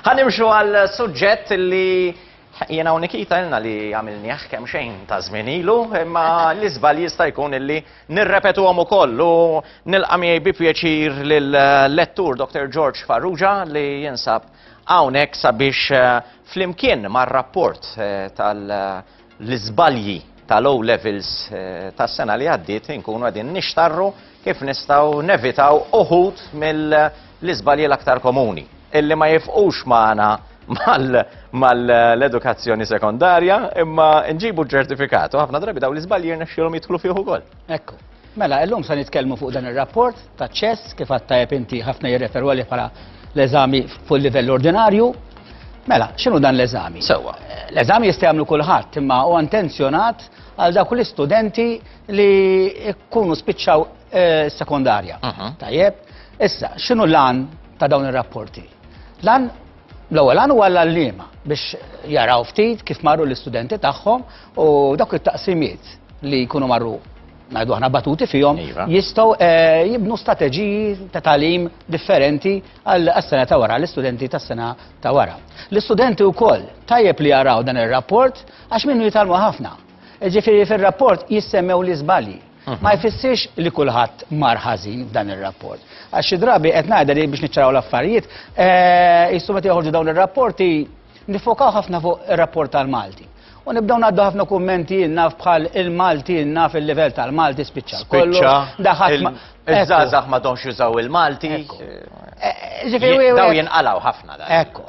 Ħa nimxu għal suġġett li Jiena u Nikita ilna li għamilnieh kemm xejn ta' żmien ilu, imma l-iżbal jista' jkun illi nirrepetu għom ukoll u nilqa' miegħi bi pjaċir lill-lettur Dr. George Farrugia li jinsab hawnhekk sabiex eh, flimkien mar-rapport eh, tal- l-iżbalji tal-O Levels tas-sena li għaddiet inkunu qegħdin nixtarru kif nistgħu nevitaw uħud mill-iżbalji l-aktar komuni illi ma jifqux magħna mal-edukazzjoni sekondarja imma nġibu ċertifikatu ħafna drabi daw l-iżbalji jirnexxielhom jidħlu fih ukoll. Ekku. Mela, illum se nitkellmu fuq dan ir-rapport ta' ċess kif għad tajjeb inti ħafna jirreferu għalih bħala l-eżami fuq livell ordinarju. Mela, x'inhu dan l-eżami? Sewwa. L-eżami jista' jagħmlu kulħadd imma huwa intenzjonat għal dawk l-istudenti li jkunu spiċċaw eh, sekondarja. Mhm. Tajjeb. Issa, x'inhu l-għan ta' dawn ir-rapporti? L-għan L-ewwel għan huwa l-għalliema biex jaraw ftit kif marru l-istudenti tagħhom u dawk it-taqsimiet li jkunu marru ngħidu aħna batuti fihom iva. jistgħu eh, jibnu strateġiji ta' talim differenti għas-sena ta' wara, l-istudenti tas-sena ta' wara. L-istudenti wkoll tajjeb li jaraw dan ir-rapport għax minnu jitalmu ħafna. Ġifieri fir-rapport jissemmew l-iżbalji. ma jfissirx li kulħadd mar ħażin f'dan ir-rapport. Għax xi drabi qed ngħidha li biex niċċaraw l-affarijiet, eh, jissu meta joħorġu dawn ir-rapporti nifokaw ħafna fuq ir-rapport tal-Malti. U nibdaw naddu ħafna kummenti naf bħal il-Malti naf il-livell tal-Malti spiċċa. Spiċċa. Daħat. Iż-żazax ma donx jużaw il-Malti. Eh, eh, daw jinqalaw ħafna da. Ekku.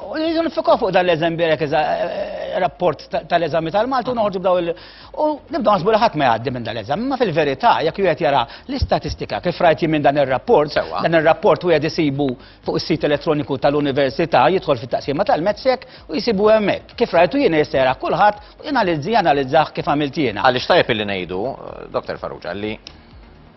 Nifikaw fuq dan l-eżem birek eh, rapport tal-eżami tal-Malti u noħorġu b'daw il- U nibda naħsbu li ħadd ma jgħaddi minn dan l-eżami, ma fil-verità jekk wieħed jara l-istatistika kif rajt jien minn dan ir-rapport, dan ir-rapport wieħed isibu fuq is-sit elettroniku tal-Università, jidħol fit-taqsima tal-MEDSEC u jsibu hemmhekk. Kif rajtu jien jissejra kulħadd u janalizzi analizzah kif għamilt jiena. Għaliex tajjeb illi ngħidu, Dr. Farrugia, li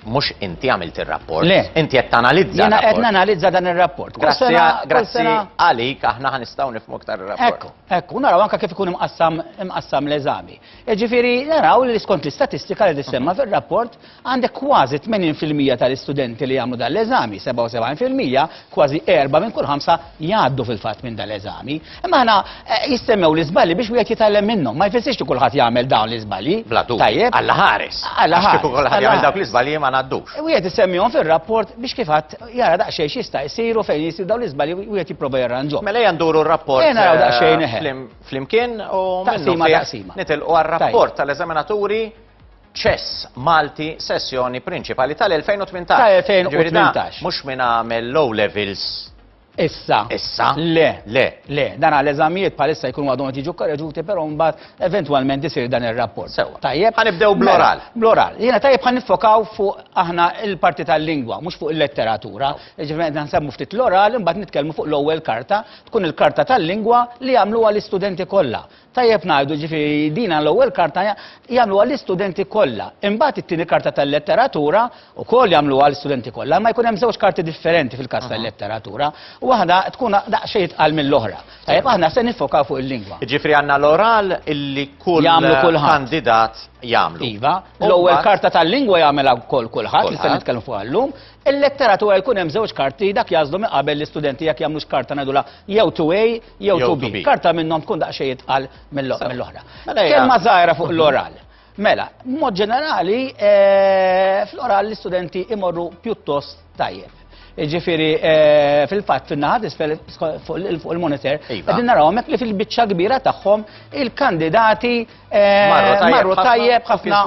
Mhux inti għamilt ir-rapport. Le. Inti qed tanalizza r-rapport. Jiena qed nanalizza dan ir-rapport. Grazzi għalik aħna ħa nistgħu nifhmu aktar ir-rapport. Ekku, ekku, naraw anke kif ikun imqassam l-eżami. Jiġifieri naraw li skont l-istatistika li tissemma fir-rapport għandek kważi 80% tal-istudenti li jagħmlu dan l-eżami, 77%, Kważi erbgħa minn kull ħamsa jgħaddu fil-fatt minn dan l-eżami. Imma aħna eh, jissemmew l-iżbalji biex wieħed jitgħallem minnhom. Ma jfissirx li kulħadd jagħmel dawn l-iżbalji. Bla dubju. Tajjeb. Alla ħares. Alla ħares. Kieku kulħadd jagħmel dawk l-iżbalji ma ngħaddux. Wieħed isemmihom fir-rapport biex kif għad jara daqsxejn x'jista' jsiru fejn jisir dawn l-iżbalji wieħed jipprova jarranġhom. Mela hija nduru r-rapport. Ejja naraw eh, daqsxejn eħe. Flimkien u taqsima taqsima. Nitilqu għar-rapport tal-eżaminaturi Chess Malti sessjoni prinċipali tal-2018. Ta' 2018. Mhux min għamel low levels. Issa. Issa? Le. Le. Le. Dan għal eżamijiet bħalissa jkunu għadhom qed jiġu korreġuti, però mbagħad eventwalment isir dan ir-rapport. Sewwa. Tajjeb. Ħanibdew mela, bl-oral. Bl-oral. Jiena tajjeb ħan nifokaw fuq aħna il-parti tal-lingwa, mhux fuq il-letteratura. Ġifieri qed nsemmu ftit l-oral, imbagħad nitkellmu fuq l-ewwel karta, tkun il-karta tal-lingwa li jagħmluha l-istudenti kollha. Tajjeb ngħidu, jiġifieri dina l-ewwel karta jagħmluha l-istudenti kollha. Imbagħad it-tieni karta tal-letteratura wkoll jagħmluha l-istudenti kollha, imma jkun hemm żewġ karti differenti fil-każ tal-letteratura, waħda tkun daqsxejn itqal mill-oħra. Tajjeb, aħna se niffokaw fuq il-lingwa. Jiġifieri għandna l-oral illi kull kandidat jagħmlu. Iva, l-ewwel karta tal-lingwa jagħmilha wkoll kulħadd li se nitkellmu fuqha llum. Il-letteratura jkun hemm żewġ karti dak jażlu minn qabel l-istudenti jekk jagħmlux karta ngħidulha jew 2A jew 2B. Karta minnhom tkun daqsxejn itqal mill-oħra. Mela Kelma żgħira fuq l-oral. Mela, mod ġenerali, eh, fl-oral l-istudenti imorru pjuttost tajjeb. Ġifiri, eh, fil-fat, fil-naħat isfel fuq il-monitor, iva. għedin naraw mek li fil-bicċa kbira tagħhom il-kandidati Eh, marru tajjeb ħafna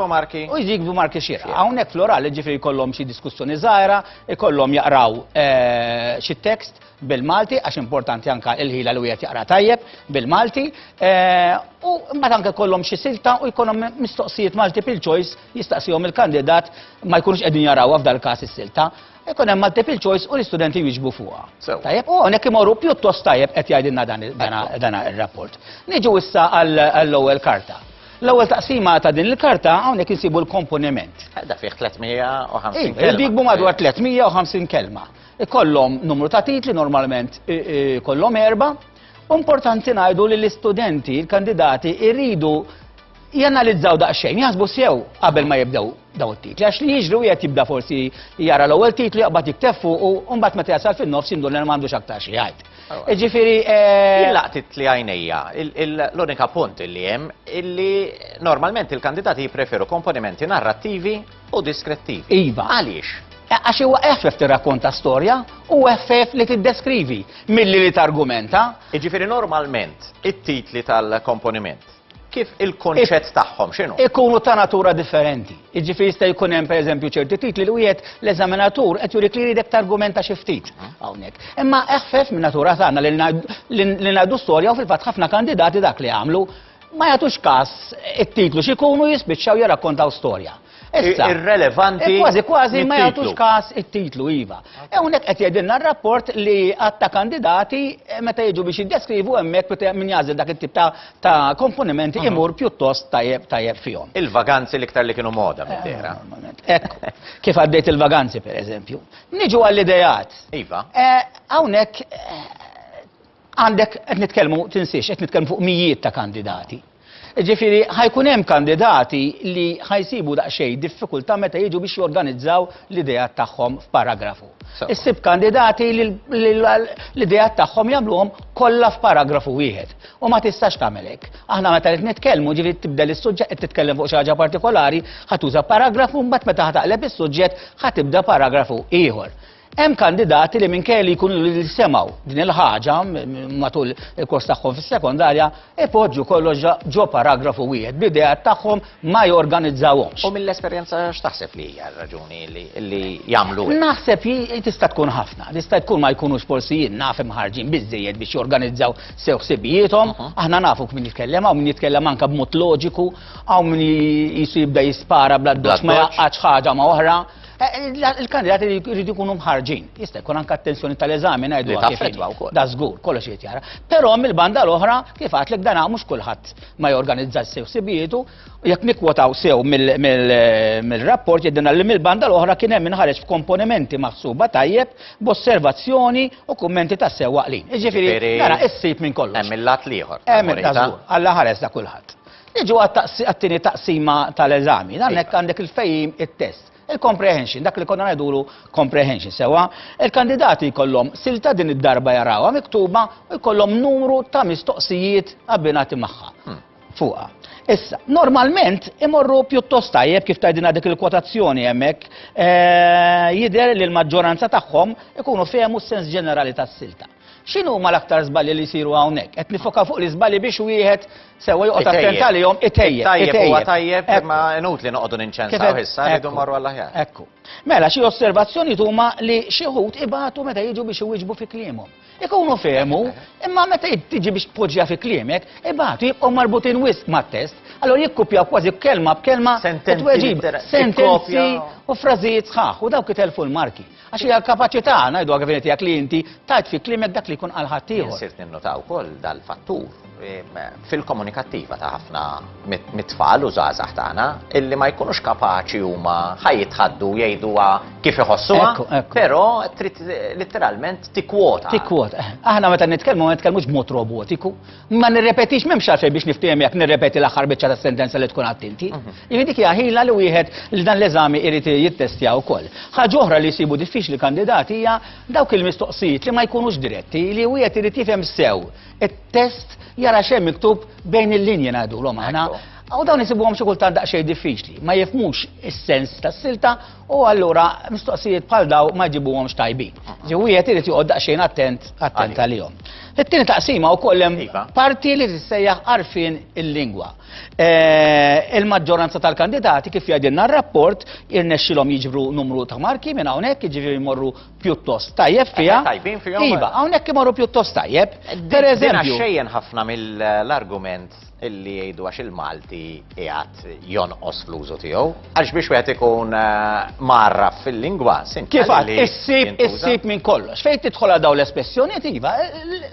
u jikbu marki xira. Hawnhekk florali ġifri jkollhom xi diskussjoni żgħira, jkollhom jaqraw eh, xi tekst bil-Malti għax importanti anka il-ħila li wieħed jaqra tajjeb bil-Malti eh, u mbagħad anke kollhom xi silta u jkollhom mistoqsijiet multiple choice jistaqsihom il-kandidat ma jkunux qegħdin jarawha f'dal każ is-silta. Ikun hemm multiple choice u l-istudenti jiġbu fuqha. Tajjeb, u hawnhekk imorru pjuttost tajjeb qed jgħidilna dan ir-rapport. Niġu issa għall-ewwel karta. L-ewwel taqsima ta' din il-karta hawnhekk insibu l-komponiment. Eh, da fih 350 iva, kelma. Jikbu madwar 350 kelma. Ikollhom numru ta' titli normalment kollhom erba'. Importanti ngħidu li l-istudenti, l-kandidati jridu janalizzaw daqsxejn, jaħsbu sew qabel ma jibdew daw it-titli. Għax li jiġri wieħed jibda forsi jara l-ewwel titlu jaqbad jiktef fuq u mbagħad meta jasal fin-nofs jindur li m'għandux aktar xi jgħid. Ġifieri eh, Jillaqt titli għajnejja, l-unika punt li hemm illi normalment il-kandidati jippreferu komponimenti narrattivi u diskrettivi. Iva. Għaliex? Eh, għax huwa effef tirrakkonta storja u effef li tiddeskrivi milli li targumenta. Jiġifieri normalment it-titli tal-komponiment Kif il-kunċett tagħhom x'inhu? Ikunu ta' natura differenti. Jiġifieri jista' jkun hemm pereżempju ċerti titli li wieħed l-eżaminatur qed jurik li jridek targumenta xi ftit mhm. hawnhekk. Imma eħfef minn natura tagħna li ngħidu storja u fil-fatt ħafna kandidati dak li għamlu ma jagħtux każ it-titlu x'ikunu jispiċċaw jirrakkontaw storja. Issa, irrelevanti. E kważi kważi ma jagħtux każ it-titlu iva. Hawnhekk qed jgħidilna r-rapport li għatta kandidati eh, meta jiġu biex jiddeskrivu hemmhekk min jagħżel dak it-tip ta' komponimenti mhm. imur pjuttost tajjeb tajjeb fihom. Il-vaganzi l-iktar li kienu moda eh, minn Ekk, kif għaddejt il-vaganzi pereżempju. Niġu għall-idejat. Iva. Eh, hawnhekk għandek qed nitkellmu tinsiex qed nitkellmu fuq mijiet ta' kandidati. Jiġifieri ħa jkun hemm kandidati li ħa jsibu daqsxejn diffikultà meta jiġu biex jorganizzaw l-ideat tagħhom f'paragrafu. Issib kandidati li l-ideat tagħhom jagħmluhom kollha f'paragrafu wieħed. U ma tistax tagħmel hekk. Aħna meta qed nitkellmu ġifieri tibdel is-suġġett qed titkellem fuq xi ħaġa partikolari, ħa tuża paragrafu mbagħad meta ħa taqleb is-suġġett ħa tibda paragrafu ieħor. Hemm kandidati li minkejja li jkunu li semgħu din il-ħaġa matul il-kors tagħhom fis-sekondarja ipoġġu kollox ġo paragrafu wieħed b'idea tagħhom ma jorganizzawhomx. U mill-esperjenza x'taħseb li hija r-raġuni li jagħmlu hekk? Naħseb tista' tkun ħafna, tista' tkun ma jkunux forsi jien naf imħarġin biżejjed biex jorganizzaw sew ħsibijiethom, aħna nafu kmin jitkellem hawn min jitkellem anke b'mod loġiku, hawn min jisu jibda jispara bla doċ ma jaqgħadx ħaġa ma' oħra. Il-kandidati jridu jkunu mħarġin. Jista' jkun anke attenzjoni tal-eżami ngħidu wkoll. Da żgur, kollox irid jara. Però mill-banda l-oħra kif għadlek dan mhux kulħadd ma jorganizza sew sibietu, jekk nikwotaw sew mill-rapport jidinna li mill-banda l-oħra kien hemm inħareġ f'komponimenti maħsuba tajjeb b'osservazzjoni u kummenti ta' sew waqlin. Jiġifieri nara issib minn kollox. Hemm il-lat l-ieħor. Hemm il-lat Alla ħares da kulħadd. Niġu għat-tieni taqsima tal-eżami. Dan hekk għandek il-fejjim it-test. Il-comprehension, dak li konna ngħidulu comprehension, sewa, il-kandidati jkollhom silta din id-darba jarawha miktuba u jkollhom numru ta' mistoqsijiet abbinati magħha. Hmm. Fuqha. Issa, normalment imorru pjuttost tajjeb kif tajdina dik il-kwotazzjoni hemmhekk eh, jidher li l-maġġoranza tagħhom ikunu fehmu s-sens ġenerali tas-silta. X'inhuma l-aktar żbalji li jsiru hawnhekk? Qed nifokaw fuq l-iżbalji biex wieħed sewwa joqgħod attent għalihom itejjeb. Tajjeb huwa tajjeb imma inutli noqogħdu ninċensaw issa rridu mmorru għall-aħjar. Ekku. Mela xi osservazzjonijiet huma li xi wħud ibatu meta jiġu biex iwieġbu fi kliemhom. Ikunu fehmu, imma meta tiġi biex tpoġġiha fi kliemek, ibatu jibqgħu marbutin wisq mat-test, allura jikkupjaw kważi kelma b'kelma sentenzi u frażijiet sħaħ u dawk itelfu l-marki. Għax hija l-kapaċità, ngħiduha kif inhi, tiegħek li inti tgħid fi kliemek dak li jkun qal ħaddieħor. Jien sirt ninnota wkoll dal-fattur fil-komunikattiva ta' ħafna mit-tfal u żgħażagħ tagħna illi ma jkunux kapaċi huma ħajjitħaddu jgħiduha kif iħossuha, però trid litteralment tikkwota. Tikkwota. Aħna meta nitkellmu ma nitkellmux b'mod robotiku, Ma nirrepetix m'hemmx għalfejn biex niftehim jekk nirrepeti l-aħħar biċċa tas-sentenza li tkun għadt inti. Mhm. Jiġifieri dik hija ħila li wieħed li dan l-eżami jrid jittestja wkoll. Ħaġa oħra li jsibu diffiċli kandidati hija dawk il-mistoqsijiet li ma jkunux diretti li wieħed irid jifhem sew it-test jara xejn miktub bejn il-linji ngħidulhom aħna. U dawn isibuhom xi kultant daqsxejn diffiċli, ma jifmux is-sens tas-silta U allura mistoqsijiet bħal daw ma jġibuhomx tajbin. Ġi wieħed irid joqgħod daqsxejn attent attent għalihom. It-tieni taqsima wkoll hemm iva. parti li tissejjaħ għarfien il-lingwa. Eh, il-maġġoranza tal-kandidati kif jgħidilna r-rapport irnexxilhom jiġbru numru ta' marki minn hawnhekk jiġri jmorru pjuttost tajjeb fiha. Tajbin fiha. Iva, hawnhekk imorru pjuttost tajjeb. Per eżempju. ħafna mill-argument illi jgħidu għax il-Malti qiegħed jonqos fl-użu tiegħu, għax biex wieħed ikun eh, marraf fil-lingwa sint. Kif għad, issib, issib minn kollox. Fejn tidħol għal dawn l-espressjonijiet iva,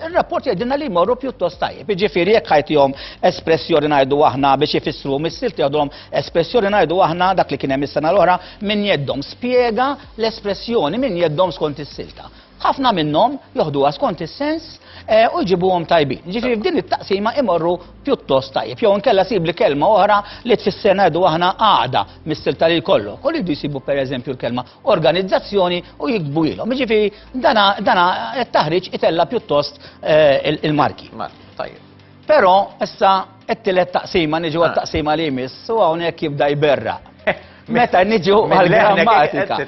ir-rapport jgħidilna li jmorru pjuttost tajjeb. Jiġifieri jekk ħajtihom espressjoni ngħidu aħna biex ifissru missilt jgħidhom espressjoni ngħidu aħna dak li kien hemm is-sena l-oħra minn jeddhom spjega l-espressjoni minn jeddhom skont is-silta. Ħafna minnhom joħduha skont is-sens u jġibuhom tajbin. Jiġifieri f'din it-taqsima imorru pjuttost tajjeb. Jew inkella sib li kelma oħra li tfisser ngħidu aħna għaqda mis-sil ta' lil kollok. U li jdu jsibu pereżempju l-kelma organizzazzjoni u jiktbu ilhom. Jiġifieri dana it-taħriġ itella' pjuttost il-marki. Marki, tajjeb. Però issa t-tielet taqsima niġu għat-taqsima li jmiss u hawnhekk jibda jberraq. Meta niġu għal-grammatika.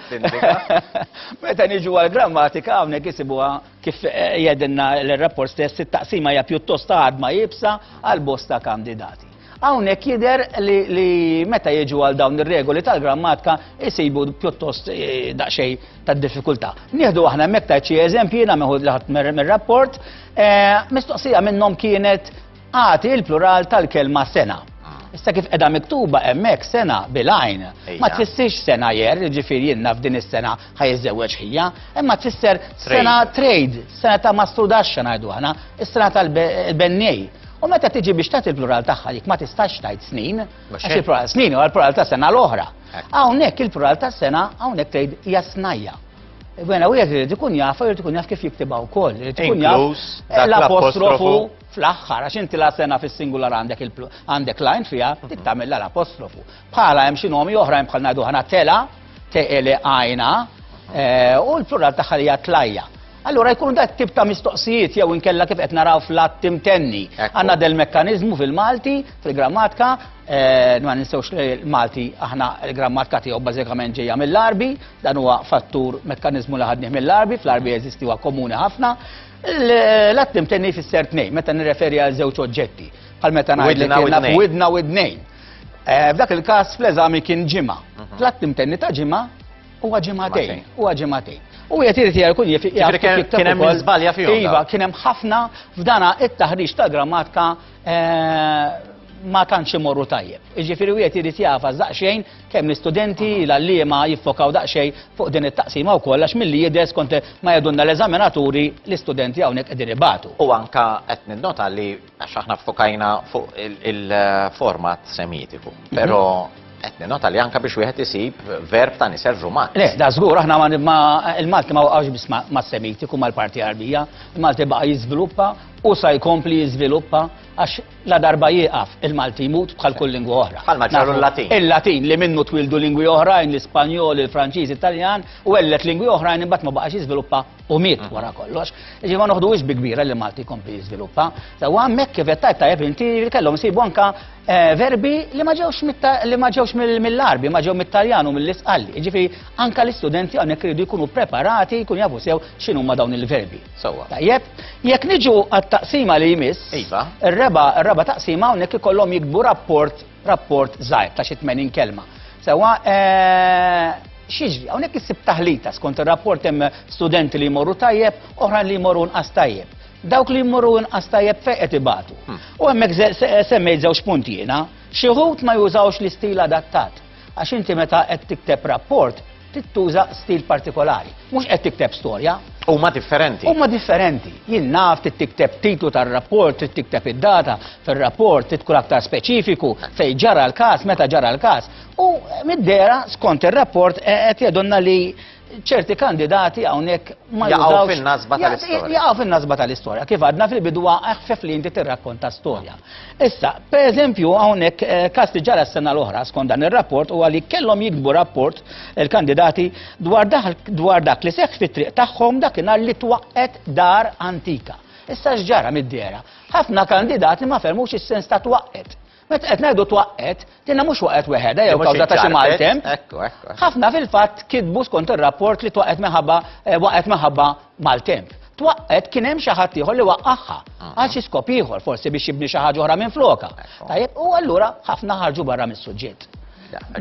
Meta niġu għal-grammatika hawnhekk isibuha kif eh, jedinna l-rapport stess it-taqsima hija pjuttost għadma jibsa għal bosta kandidati. Hawnhekk jidher li meta jiġu għal dawn ir-regoli tal-grammatika jisibu pjuttost eh, daqsxejn tad-diffikultà. Nieħdu aħna hemmhekk tajt xi eżempji jiena meħud li ħadd mir-rapport, eh, mistoqsija minnhom kienet għati l-plural tal-kelma sena. Issa kif edha miktuba emmek sena bilajn. Ma tfissirx sena jer, ġifir jenna f'din is-sena ħajżewġ ħija, imma tfisser sena trade, sena ta' mastrudaxxa ngħidu aħna, is-sena tal-bennej. U meta tiġi biex tagħti l-plural tagħha dik ma tistax tgħid snin, għax il-plural snin u l-plural ta' sena l-oħra. Hawnhekk il-plural tas-sena hawnhekk tgħid hija snajja. Bena wieħed irid ikun jaf, irid ikun jaf kif jiktibha wkoll, irid ikun jaf eh, l-apostrofu fl-aħħar għax inti la sena fis-singular għandek għandek lajn fiha dik tagħmilha l-apostrofu. Bħala hemm xi nomi oħrajn bħal ngħidu ħana tela, teqele għajna, eh, u l-plural tagħha hija tlajja. Allura jkunu da tip ta' mistoqsijiet jew inkella kif qed naraw fl-att imtenni. Għandna del mekkaniżmu fil-Malti, fil-grammatika, eh, ma ninsewx li l-Malti aħna l-grammatika tiegħu bażikament ġejja mill-Arbi, dan huwa fattur mekkaniżmu li ħadnih mill-Arbi, fl-Arbi jeżisti huwa komuni ħafna. L-att imtenni fisser tnejn, meta nirreferi għal żewġ oġġetti, bħal meta ngħidlek widna u id-nejn. Eh, f'dak il-każ fl-eżami kien ġimgħa. Mhm. L-att imtenni ta' ġimgħa Huwa ġimagħtejn, huwa ġimagħtejn. U qed irid jgħid kun jif kien hemm żbalja fihom. Iva, kien hemm ħafna f'dana it-taħriġ ta' grammatika eh, ma tantx imorru tajjeb. Iġifieri wieħed irid jafa daqsxejn kemm l-istudenti l-għalliema jiffokaw daqsxejn fuq din it-taqsima wkoll għax milli jidher skont ma jedunna l-eżaminaturi l-istudenti hawnhekk qegħdin ibatu. U anka qed ninnota li Għax aħna ffokajna fuq il-format semitiku, mhm. pero qed nota li anka biex wieħed isib verb ta' nisel rumat. Le, da żgur aħna ma il-Malti ma waqgħux biss ma' semitiku mal-parti Arbija, il-Malti baqa' jiżviluppa u sa jkompli jiżviluppa għax la darba jieqaf il-Malti jmut bħal kull lingwa oħra. Bħal maġġaru l-Latin. Il-Latin li minnu twildu lingwi oħrajn, l-Ispanjol, il-Franċiż, Italjan u għellet lingwi oħrajn imbagħad ma baqax jiżviluppa u miet mhm. wara kollox. Ġi ma noħduwix bi kbira li Malti kompli jiżviluppa. Ta' u hemmhekk kif qed tajb tajjeb inti kellhom isibu anka eh, verbi li ma ġewx li ma ġewx mill-arbi, ma ġew mit-Taljan u mill-Isqalli. Jiġifieri anka l-istudenti hawnhekk iridu jkunu preparati, jkunu jafu sew x'inhu ma dawn il-verbi. Sewwa. Tajjeb, jekk niġu għat-taqsima li jmiss, iva. ir-reba' reba' taqsima hawnhekk ikollhom jikbu rapport rapport żgħir ta' xi 80 kelma. Sewwa x'jiġri, hawnhekk issib taħlita skont ir-rapport hemm studenti li jmorru tajjeb, oħrajn li jmorru nqas tajjeb. Dawk li jmorru nqas tajjeb fejn qed ibatu. Hmm. U hemmhekk semmejt żewġ punti jiena, xi wħud ma jużawx l-istil adattat. Għax inti meta qed tikteb rapport, tittuża stil partikolari. Mhux qed tikteb storja. Huma differenti. Huma differenti. Jien naf trid tikteb titlu tar-rapport, trid tikteb id-data fir-rapport, trid tkun aktar speċifiku fejn ġara l-każ, meta ġara l-każ. U mid-dera skont ir-rapport e, qed jedonna li ċerti kandidati hawnhekk ma jaqgħu fin-nasba tal-istorja. Jaqgħu fin-nasba tal-istorja. Kif għadna fil-bidwa eħfef li inti tirrakkonta storja. Issa, per eżempju, hawnhekk eh, każ li ġara s-sena l-oħra skont dan ir-rapport huwa li kellhom jiktbu rapport il-kandidati dwar, dwar dak li seħħ fit-triq tagħhom dakinhar li twaqqet dar antika. Issa x'ġara mid-dera? Ħafna kandidati ma fermux is-sens ta' twaqqet. Meta qed ngħidu twaqqet, Dinha mhux waqgħet weħedha jew kawża ta' xi maltemp. Ħafna fil-fatt kitbu skont ir-rapport li twaqgħet minħabba eh, waqgħet minħabba maltemp twaqqet kien hemm xi ħadd ieħor li waqqagħha ah. għal xi skop ieħor forsi biex jibni xi ħaġa oħra minn floka. Tajjeb u allura ħafna ħarġu barra mis-suġġett.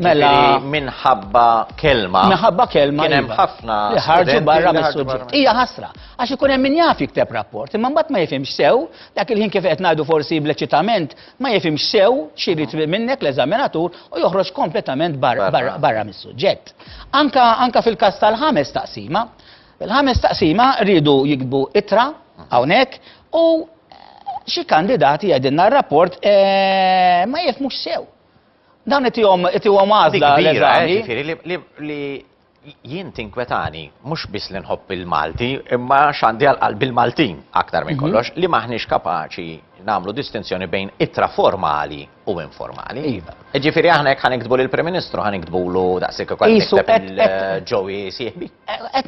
Mela minħabba kelma. Minħabba kelma. Kien hemm iva. ħafna li ħarġu barra mis-suġġett. Hija ħasra għax ikun hemm min jaf jikteb rapport, imma mbagħad ma jifhimx sew dak il-ħin kif qed ngħidu forsi bl-eċitament ma jifhimx sew xi jrid minnek l-eżaminatur u joħroġ kompletament barra mis-suġġett. Anka fil-każ tal-ħames taqsima, il-ħames taqsima rridu jikbu itra hawnhekk u xi kandidati għedinna r-rapport eh, ma jifmux sew. Dawn itihom itihom għażla l-eżami. Eh, li Jien tinkwetani mhux biss li nħobb il-Malti, imma x'għandi għal qalbi l-Maltin aktar minn mhm. kollox li m'aħniex kapaċi nagħmlu distinzjoni bejn ittra formali u informali. Iva. Ġifieri aħna jekk ħaniktbu lill-Prim Ministru ħaniktbulu daqshekk ukoll nikteb il-ġowi eh, sieħbi.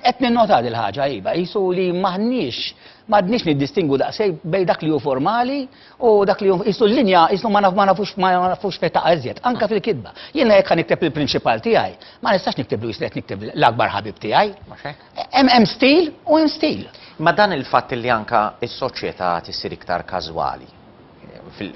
Qed ninnota il ħaġa iva, qisu li m'aħniex m'għadniex niddistingu daqshekk bejn dak li hu formali U dak li jisu l-linja, jisu ma nafux ma nafux fejn taqa' iżjed, anke fil-kitba. Jiena jekk nikteb il-prinċipal tiegħi, ma nistax niktiblu jisu qed nikteb l-akbar ħabib tiegħi. Hemm stil u hemm stil. Ma dan il-fatt li anke s-soċjetà qed issir iktar każwali,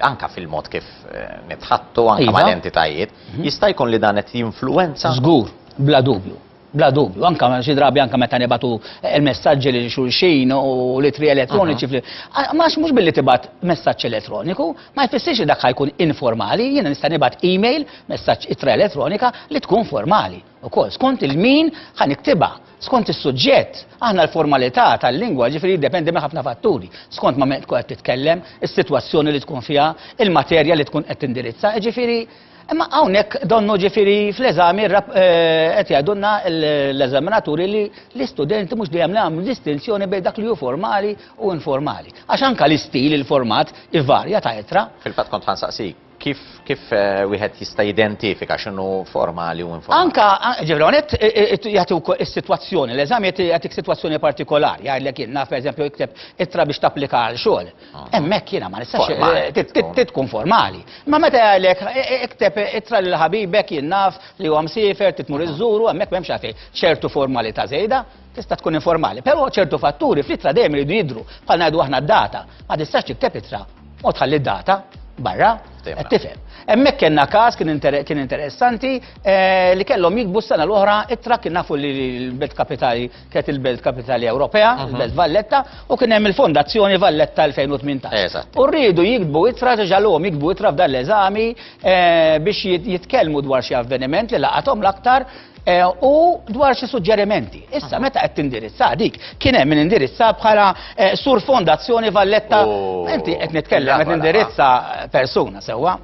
anke fil-mod kif eh, nitħattu anke iva. mal-entitajiet, mhm. jista' jkun li dan qed jinfluwenza? Żgur, bla dubju. Bla dubju, anke xi drabi anke meta nibatu l-messaġġi lil xulxin u l-ittri elettroniċi fl Għax mhux billi tibgħat messaġġ elettroniku, ma jfissirx li dak ħajkun informali, jiena nista' nibgħat email, messaġġ ittra elettronika li tkun formali ukoll. Skont il-min ħa niktibha, skont is-suġġett, aħna l-formalità tal-lingwa ġifieri jiddependi minn ħafna fatturi, skont ma' min tkun qed titkellem, is-sitwazzjoni li tkun fiha, il-materja li tkun qed tindirizza, ġifieri Imma hawnhekk donnu ġifieri fl-eżami qed jgħidulna l-eżaminaturi li l-istudenti mhux dejjem li għamlu distinzjoni bejn dak li hu formali u informali. Għax anke l-istil, il-format ivarja ta' ittra. Fil-fatt kont ħansaqsik kif kif wieħed jista' jidentifika x'inhu formali u informali. Anke ġifieri hawnhekk jagħti wkoll is-sitwazzjoni, l-eżami jagħtik sitwazzjoni partikolari, jgħidlek jien naf pereżempju ikteb ittra biex tapplika għal xogħol. Hemmhekk jiena ma nistax trid tkun formali. Ma meta jgħidlek e, e, ikteb e, ittra lil ħabibek jien naf li huwa msiefer trid tmur iżżuru hemmhekk m'hemmx għalfejn ċertu formalità żejda tista' tkun informali. Però ċertu fatturi fl-ittra dejjem iridu jidhru bħal ngħidu aħna d-data. Ma tistax tikteb ittra u tħalli d-data barra. Tifhem. Hemmhekk kellna każ kien interessanti eh, li kellhom jikbu s-sena l-oħra ittra kien nafu li l-bet kapitali Kienet il-Belt Kapitali Ewropea, mhm. il-Belt Valletta, u kien hemm il-Fondazzjoni Valletta 2018. Eżatt. U rridu jikdbu itra ġalhom jikdbu itra f'dan l-eżami eh, biex jitkellmu dwar xi avveniment li laqathom l-aktar eh, u dwar xi suġġerimenti. Issa mhm. meta qed tindirizza dik kien hemm min indirizza bħala eh, sur Fondazzjoni Valletta. Oh. Inti qed nitkellem qed indirizza persuna sewwa.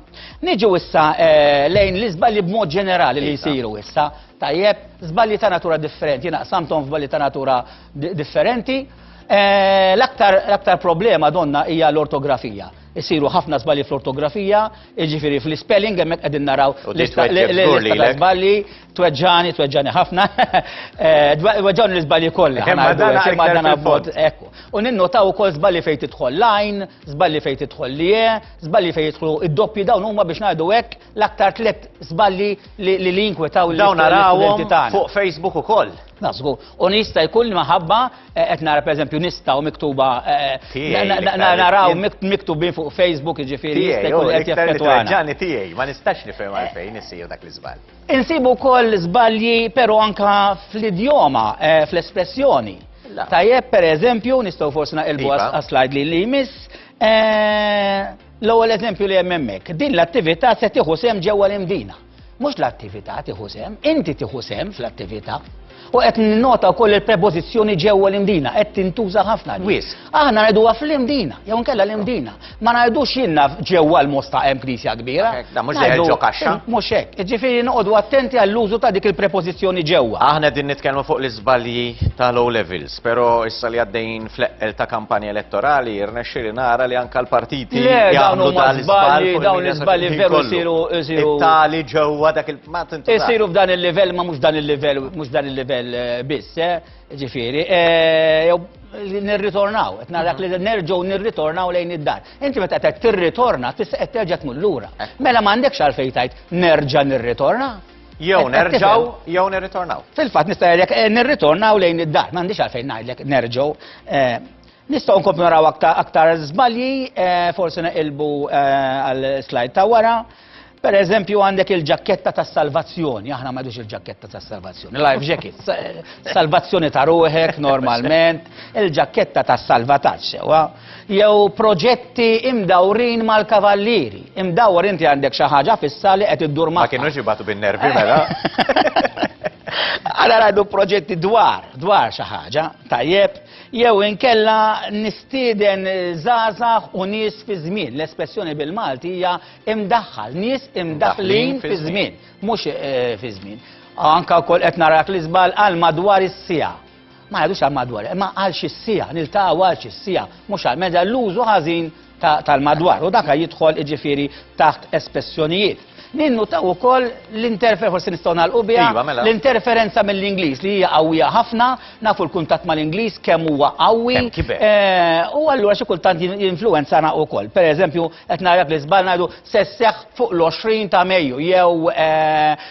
Niġu issa lejn l-iżbalji b'mod ġenerali li jsiru issa Tajjeb, żbalji ta' natura differenti, jiena qsamthom f'żbalji ta' natura differenti. L-aktar l-aktar problema donna hija l-ortografija. Isiru ħafna żbalji fl-ortografija, jiġifieri fl-ispelling hemmhekk qegħdin naraw l-lista ta' żbalji, tweġġagħni, tweġġagħni ħafna, weġġgħuni l-iżbalji kollha. Kemm ma dan għalkemm ma dan abbord, hekk. U ninnotaw ukoll żbalji fejn tidħol l-għajn, żbalji fejn tidħol l-ie, żbalji fejn jidħlu d-doppji dawn huma biex ngħidu hekk, l-aktar tliet żballi li li jinkwetaw li dawn narawhom fuq Facebook ukoll. Nasgu, u nista jkun maħabba eh, qed nara pereżempju nista u miktuba eh, naraw miktubin fuq Facebook jiġifieri jista' jkun qed jaffettwana. Ġani tiegħi ma nistax nifhem eh. għalfejn isir dak l-iżball. Insibu wkoll żbalji però anka fl-idjoma, fl-espressjoni. Tajjeb pereżempju nistgħu forsi naqilbu iva. għas-slide li jmiss L-ewwel eżempju li hemm hemmhekk, din l-attività se tieħu sehem ġewwa l-imdina. Mhux l-attività tieħu sehem, inti tieħu sehem fl-attività. U qed ninnota wkoll il-prepożizzjoni ġewwa l-imdina qed tintuża ħafna. Wis. Aħna ngħiduha fl-imdina, jew nkella l-imdina. Ma ngħidux jinnna ġewwa l-mosta hemm knisja kbira. Da mhux dejjem ġo kaxxa. Mhux hekk. Ġifieri noqogħdu attenti għall-użu ta' dik il-prepożizzjoni ġewwa. Aħna din nitkellmu fuq l-iżbalji tal-O levels. Spero issa li għaddejjin fl-eqqel ta' kampanja elettorali, rnexxieli nara li anka l-partiti Le, dawn jagħmlu huma dan l-iżball żbalji, fuq dawn il-media l-iżbalji social-ħin veru kollu. jsiru jsiru It-tali ġewwa dak il ma tintu taf. isiru f'dan il-livell ma mhux dan il-livell mhux dan il-livell eh, biss, eh, ġifieri. eh, jew nirritornaw, qed narak li nerġgħu nirritornaw lejn id-dar. Inti meta qed tirritorna tista' qed terġa' tmur lura. Mela m'għandekx għalfejn tgħid nerġa' nirritorna. Jew nerġaw, jew nirritornaw. Fil-fatt nista' jgħidlek eh, nirritornaw lejn id-dar, m'għandix għalfejn ngħidlek nerġgħu. Eh, nistgħu nkomplu naraw aktar żbalji, eh, forsi neqilbu għal slide ta' wara. Per eżempju għandek il-ġakketta ta' salvazzjoni, aħna ma il-ġakketta ta' salvazzjoni, life jacket, salvazzjoni ta' ruħek normalment, il-ġakketta ta' salvataċ, jew proġetti imdawrin mal-kavallieri. Imdawwar inti għandek xi ħaġa fissa li qed iddur magħha. Ma kienux jibatu bin-nervi mela. Għara għadu proġetti dwar, dwar xi ħaġa, tajjeb, jew inkella nistieden zazax u nies fi żmien. L-espressjoni bil-Malti hija imdaħħal, nies imdaħħlin fi żmien, mhux eh, fi żmien. Anka wkoll qed narak li żball għal madwar is-sija. Ma ngħidux għal madwar, imma għal xi siegħa, niltaqgħu għal xi siegħa, mhux għal meta l-użu ħażin tal-madwar. U dak jidħol jiġifieri taħt espressjonijiet. Ninnutaw ukoll l-interfer forsi nistgħu nagħlqu biha iva, mela. l-interferenza mill-Ingliż li hija qawwija ħafna, nafu l-kuntatt mal-Ingliż kemm huwa qawwi. Eh, u allura xi kultant jinfluwenzana wkoll. Pereżempju, qed narak li żball ngħidu se fuq l-20 ta' Mejju jew eh,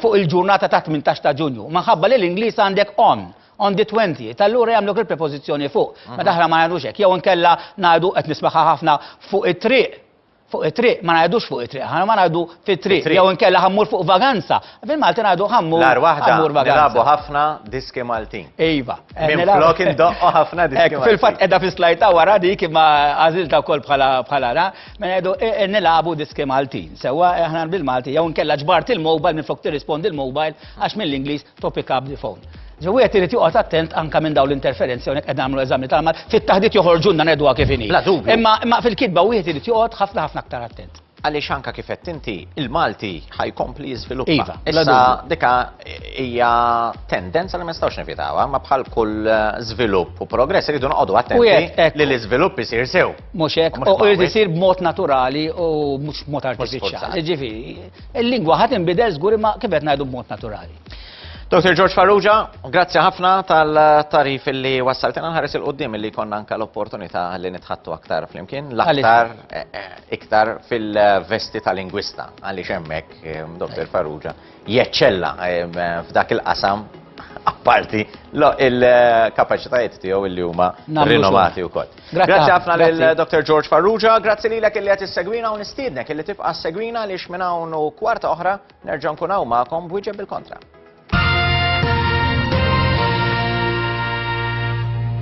fuq il-ġurnata ta' 18 ta' Ġunju. Minħabba li l-Ingliż għandek on, on the 20, tal-lura jagħmluk il-prepożizzjoni fuq. Ma mhm. daħra ma jagħmlux hekk. Jew inkella ngħidu qed nismaħħa ħafna fuq it-triq fuq it-triq, ma ngħidux fuq it-triq, ħana ma ngħidu fit-triq, jew inkella ħammur fuq vaganza. Fil-Malti ngħidu ħammur. Lar waħda, nilabu ħafna diski Maltin. Iva. Eh, Minn flok indoqqo ħafna diski Maltin. Fil-fatt edha fis-slajta wara dik imma għażilta wkoll bħala bħala Mela jgħidu e, e, nilagħbu diski Maltin. Sewwa e, aħna bil-Malti jew nkella ġbart il-mobile minn flok tirrispondi l-mobile għax mill-Ingliż to pick up the phone. Ġewwi qed irid joqgħod attent anke minn dawn l-interferenzi hawnhekk qed nagħmlu eżami tal-mal fit-taħdit joħorġunna nedwa kif inhi. La dubju. Imma fil-kitba wieħed irid joqgħod ħafna ħafna aktar attent għaliex anka kif qed inti il-Malti ħajkompli jiżviluppa. Iva, issa dika hija tendenza li ma nistgħux nevitawha, ma bħal kull eh, żvilupp u progress iridu noqogħdu attenti li l-iżvilupp isir sew. Mhux hekk, u irid isir b'mod naturali u mhux b'mod artifiċjali. Ġifieri, il-lingwa ħadd inbidel żgur imma kif qed ngħidu b'mod naturali. Dr. George Farrugia, grazzi ħafna tal-tarif li wassaltina nħares il-qoddim li konna anka l-opportunità li nitħattu aktar flimkien, l-aktar eh, eh, iktar fil-vesti tal-lingwista, għalli xemmek, eh, Dr. Farrugia, jeċċella f'dak il-qasam apparti il-kapaċitajiet tiegħu li huma rinomati wkoll. Grazzi ħafna lil Dr. George Farrugia, grazzi lilek illi qed issegwina u nistiednek illi tibqa' segwina li minn hawn u kwarta oħra nerġa' nkun hawn magħkom b'wieġeb bil-kontra.